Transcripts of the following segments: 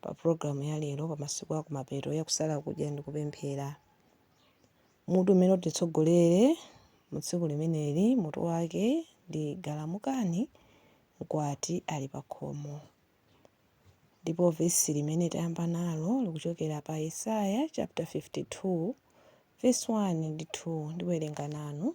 pa pulogalamu ya lero pa masiku akumapeto ya kusala kudya ndi kupemphera. Mutu umene utitsogolere mu tsiku limeneli mutu wake ndi Galamukani, Mkwati ali pa khomo. Ndipo vesi limene tayamba nalo likuchokera pa Yesaya chapter 52 verse 1 ndi 2 ndiwerenga nanu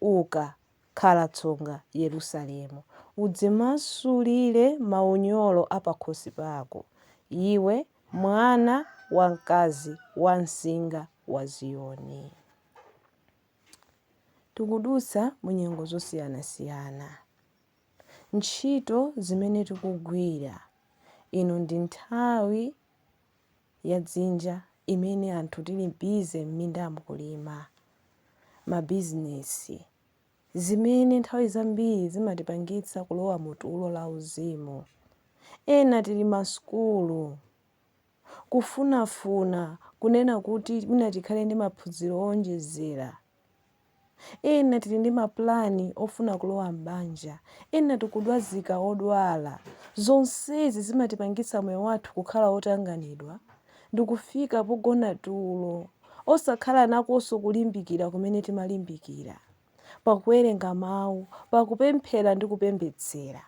Uka, khala tsonga, Yerusalemu. Udzimasulire maunyolo a pakhosi pako, iwe mwana wamkazi wamsinga wa Ziyoni. Tikudutsa mu nyengo zosiyanasiyana. Ntchito zimene tikugwira, ino ndi nthawi ya dzinja imene anthu tili bize m'mindamu kulima, mabizinesi, zimene nthawi zambiri zimatipangitsa kulowa mu tulo lauzimu. Ena tili masukulu, kufunafuna, kunena kuti mwina tikhale ndi maphunziro owonjezera. Ena tili ndi mapulani ofuna kulowa m'banja. Ena tikudwazika odwala. Zonsezi zimatipangitsa moyo wathu kukhala otanganidwa ndi kufika pogona tulo, osakhala nakonso kulimbikira kumene timalimbikira pa kuwerenga Mawu, pa kupemphera ndi kupembedzera.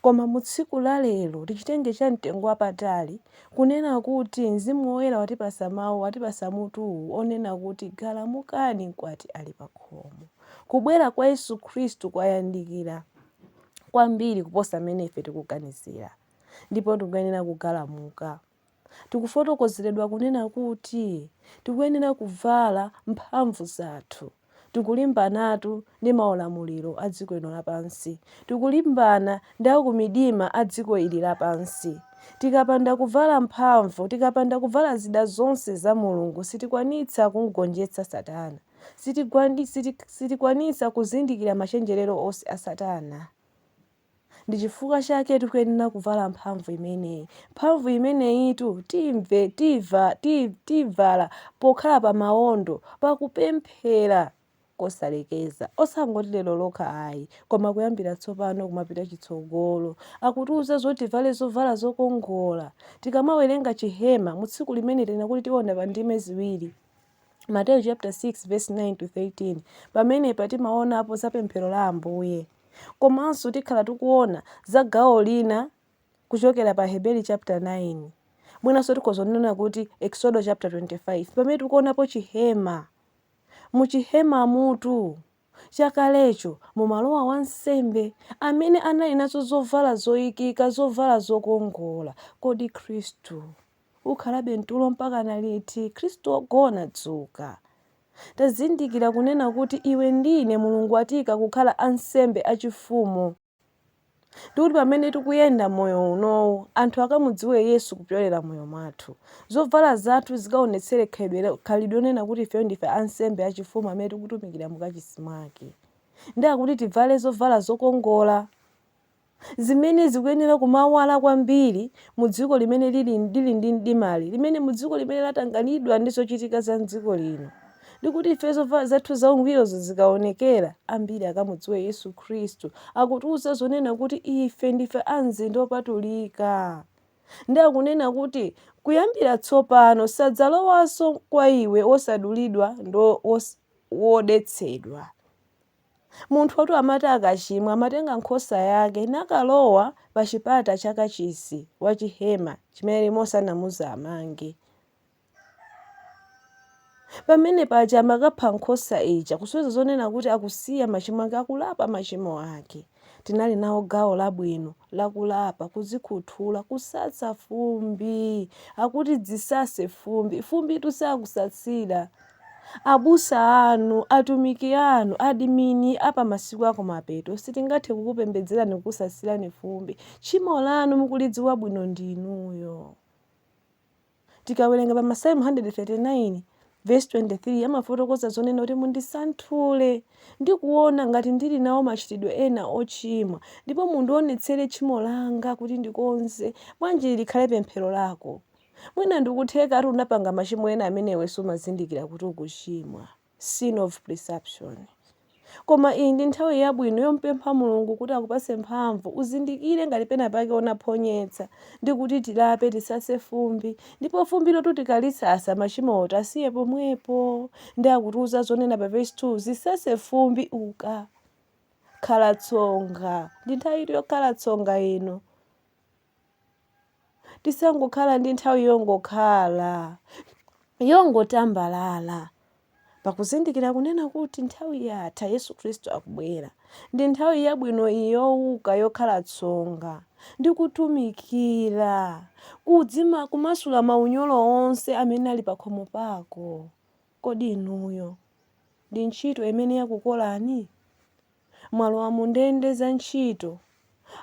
Koma mu tsiku la lero, tichitenge cha mtengo wapatali, kunena kuti Mzimu Woyera watipasa mawu, watipasa mutuwu, onena kuti galamukani mkwati ali pa khomo. Kubwera kwa Yesu Khristu kwayandikira kwambiri kuposa mmene ife tikuganizira. Ndipo tikuyenera kugalamuka. Tikufotokozeredwa kunena kuti tikuyenera kuvala mphamvu zathu. Tikulimbanatu ndi maulamuliro a dziko ino lapansi. Tikulimbana ndi akumidima a dziko ili lapansi. Tikapanda kuvala mphamvu, tikapanda kuvala zida zonse za Mulungu sitikwanitsa kumgonjetsa satana. Sitikwanitsa kuzindikira machenjerero onse a satana. Ndi chifukwa chake tikuyenera kuvala mphamvu imeneyi. Mphamvu imeneyitu timve, tiva, ti, tivala pokhala pa mawondo, pakupemphera kosalekeza. Osangoti lero lokha ayi, koma kuyambira tsopano kumapita chitsogolo. Akutiuza zoti tivale zovala zokongola. Tikamawerenga chihema mu tsiku limene tinena kuti tiona pa ndime ziwiri. Mateyu chapter 6 verse 9 to 13 pamene timaonapo za pemphero la ambuye komanso tikhala tikuona za gawo lina kuchokera pa heberi chapter 9 mwinanso tikhoza kunena kuti exodo chapter 25 pamene tikuonapo chihema mu chihema mutu chakalecho mumalowa wansembe amene anali nazo zovala zoyikika zovala zokongola kodi khristu Ukhalabe mtulo mpakana liti, Khristu wogona? Dzuka! Tazindikira kunena kuti iwe ndi ine Mulungu watiika kukhala ansembe achifumu, ndi kuti pamene tikuyenda moyo unowu, anthu akamudziwe Yesu kupyolera moyo mwathu. Zovala zathu zikaonetsere khalidwe lonena kuti ifeyo ndife ansembe achifumu amene tikutumikira mu kachisi mwake. Ndi akuti tivale zovala zokongola. zimene zikuyenera kumawala kwambiri mu dziko limene lili, lili ndi mdimali, limene mu dziko limene latanganidwa ndi zochitika za dziko lino, ndi kuti ife zovala zathu zaungwirozo zikaonekera, ambiri akamudziwe Yesu Khristu. Akutiuza zonena kuti ife ndife a mzinda wopatulika. Ndi akunena kuti kuyambira tsopano sadzalowanso kwa iwe wosadulidwa ndi wodetsedwa. Munthu uja tu amati akachimwa amatenga nkhosa yake nakalowa pa chipata cha kachisi wa chihema chimene Mose anamuuza amange. Pamene paja amakapha nkhosa ija kusonyeza zonena kuti akusiya machimo ake, akulapa machimo ake. Tinali nawo gawo labwino lakulapa, kudzikhuthula, kusasa fumbi. Akuti dzisase fumbi. Fumbitu sakusasira. Abusa anu, atumiki anu, adimini a pa masiku akumapeto sitingathe kukupembedzerani kukusasirani fumbi. Tchimo lanu mukulidziwa bwino ndinuyo. Tikawerenga pa Masalimo 139 vesi 23 amafotokoza zonena kuti mundisanthule ndi kuona ngati ndili nawo machitidwe ena ochimwa ndipo mundionetsere tchimo langa kuti ndikonze. Bwanji ili likhale pemphero lako? Mwina ndikuthekatu unapanga machimo ena amene iwe sumazindikira kuti ukuchimwa, sin of presumption. Koma iyi ndi nthawi yabwino yompempha Mulungu kuti akupase mphamvu uzindikire ngati pena pake unaphonyetsa ndi kuti tilape tisase fumbi ndipo fumbilotu tikalisasa machimowo tiwasiye pomwepo ndi akutiuza zonena pa verse 2 zisase fumbi uka khala tsonga ndi nthawi yokhala tsonga ino tisangokhale ndi nthawi yongokhala yongotambalala pakuzindikira kunena kuti nthawi yatha yesu khristu akubwera ndi nthawi yabwino iyi yowuka yokhala tsonga ndi kutumikira kudzima kumasula maunyolo onse amene ali pakhomo pako kodi inuyo ndi ntchito imene yakukolani mwalowa mu ndende za ntchito,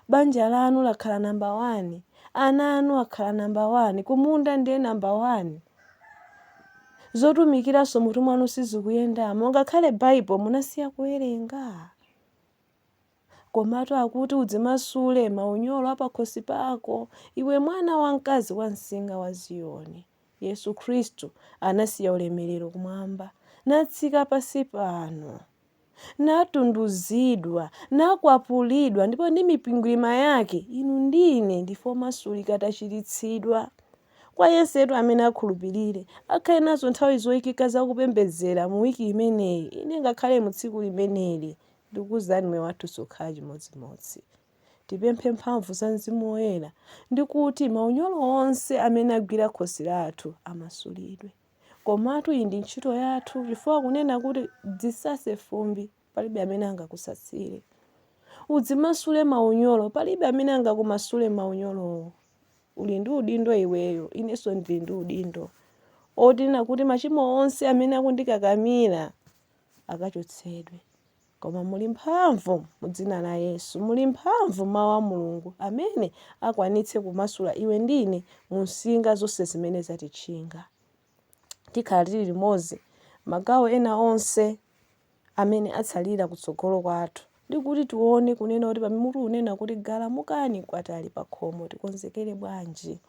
banja lanu lakhala namba wani, ana anu akhala namba wani, kumunda ndiye namba wani. Zotumikiranso mutu mwanu sizikuyendamo, ngakhale Bible munasiya kuwerenga. Komatu akuti udzimasule maunyolo apakhosi pako, iwe mwana wamkazi wamsinga wa Ziyoni. Yesu Khristu anasiya ulemerero kumwamba, natsika pansi pano. natunduzidwa, nakwapulidwa, ndipo ndi mikwingwirima yake inu ndi ine ndife omasulika tachiritsidwa. Kwa yensetu amene akhulupirire, akhale nazo nthawi zoikika za kupembedzera mu wiki imeneyi, inde ngakhale mu tsiku limeneli, ndikukuuzani moyo wathu sukhala chimodzimodzi. Tipemphe mphamvu za Mzimu Woyera ndi kuti maunyolo onse amene agwira khosi lathu amasulidwe. Komatu iyi ndi ntchito yathu chifukwa kunena kuti dzisase fumbi palibe amene angakusasire. Udzimasule maunyolo palibe amene angakumasule maunyolowo. Uli ndi udindo iweyo, inenso ndili ndi udindo. Woti kunena kuti machimo onse amene akundikakamira akachotsedwe. Koma muli mphamvu mu Dzina la Yesu. Muli mphamvu mu Mawu a Mulungu, amene akwanitse kumasula iwe ndi ine mu nsinga zonse zimene zatitchinga. Tikhala tiri limodzi, magawo ena onse amene atsalira kutsogolo kwathu, ndi kuti tiwone, kunena kuti pamene mutu unena kuti Galamukani, Mkwati ali pakhomo, tikonzekere bwanji.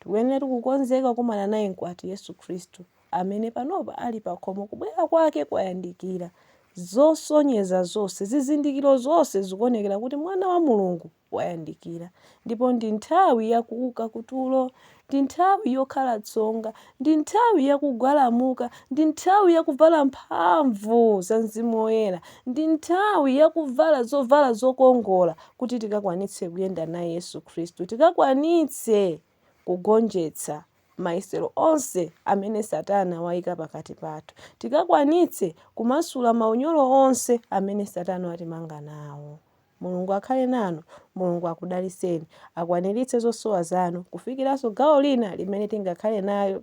Tikuyeneratu kukonzeka kukumana naye Mkwati, Yesu Khristu. amene panopa ali pakhomo, kubwera kwake kwayandikira. Zosonyeza zonse, zizindikiro zonse zikuonekera kuti Mwana wa Mulungu wayandikira. Ndipo ndi nthawi ya kuuka kutulo, ndi nthawi yokhala tsonga, ndi nthawi ya kugwalamuka, ndi nthawi ya kuvala mphamvu za Mzimu Woyera, ndi nthawi ya kuvala zovala zokongola kuti tikakwanitse kuyenda naye Yesu Khristu, tikakwanitse kugonjetsa mayesero onse amene Satana waika pakati pathu, tikakwanitse kumasula maunyolo onse amene Satana watimanga nawo. Mulungu akhale nanu. Mulungu akudalitseni. Akwaniritse zosowa zanu kufikiranso gawo lina limene tingakhale nayo.